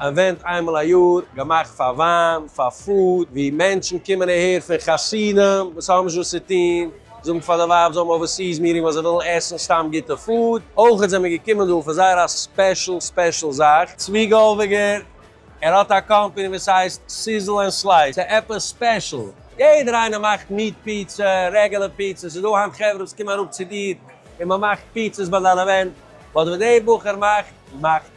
אווענט איינמאל א יאר, געמאכט פאר וויין, פאר פוד, ווי מענטשן קומען אהער פון חתונה וואס האבן נישט וואס צו טון, זאגן פאר די ווייב זיי האבן אווערסיס מיטינג ווייל זיי ווילן עסן סתם גוטע פוד, אויכעט זעמער געקומען דא פאר זייער א ספעשל ספעשל זאך, צבי גאלוועגער, ער האט א קאמפעני וואס הייסט סיזל ענד סלייס, ס'עפעס ספעשל? יעדער איינער מאכט מיעט פיצע, רעגעלער פיצע, ס'איז דא היינט חברה וואס קומען אראפ צו דיר און מ'מאכט פיצעס ביי דיין אווענט, באט וואס דער בחור מאכט, מאכט.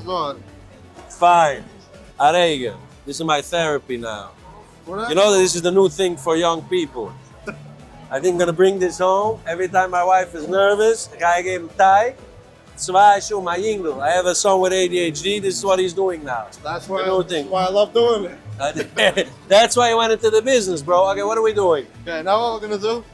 אזוי. פיין. א רגע. דיס איז מיי טעראפי נאו. יו נאו דעט דיס איז די ניו טינג פאר יונג פיפל. איי טינק גאנא ברינג דיס האום. עווערי טיים מיי ווייף איז נערוועז גיי איך געבן טיי. צוויי שעה מיין יונגל, איי העוו א סאן וויט adhd, דיס איז וואט היז דואינג נאו. דעטס וואי איי לאוו דואינג איט. דעטס וואי יו ווענט אינטו די ביזנעס בראו. אקעי וואט אר ווי דואינג. אקעי נאו וואט ווער גאנא דא.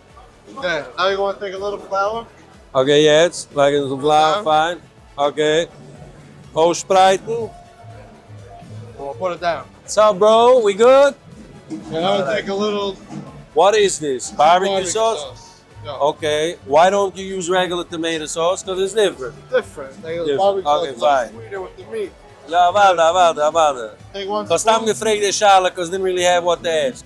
אקעי יעצט לייג איך דאס גלייך פיין אקעי אויסשפרייטן. סאו בראו ווי גוד? וואט איז דיס? בארבעקיו סאוס? אקעי וויי דאנט יו יוז רעגולער טאמעיטא סאוס קאוז איטס דיפרענט. אקעי פיין. יא אוואדע אוואדע אוואדע. כ'האב סתם געפרעגט די שאלה קאוז דידנט ריעלי העוו וואט טו עסק.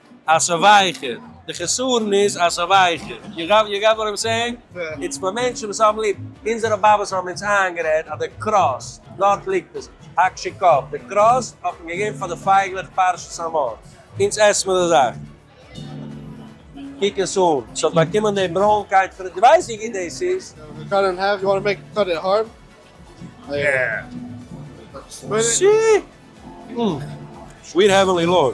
אז ס'איז ווייכער, די חסרון איז אז ס'איז ווייכער, יו גאט יו גאט וואט איים סעינג? איטס פאר מענטשן וואס האבן ליב, אונזערע באבעס האבן אונז איינגערעדט אז די קראסט, דארט ליגט עס, הקש קב, די קראסט האט מען געגעבן פאר די פייגלעך פרשת המאור, אונז עסט מען די זאך. קוק עס אן, ס'האט באקומען די ברוינקייט פון, דו ווייסט ווי גוט דאס איז? סוויט האווענלי לארד.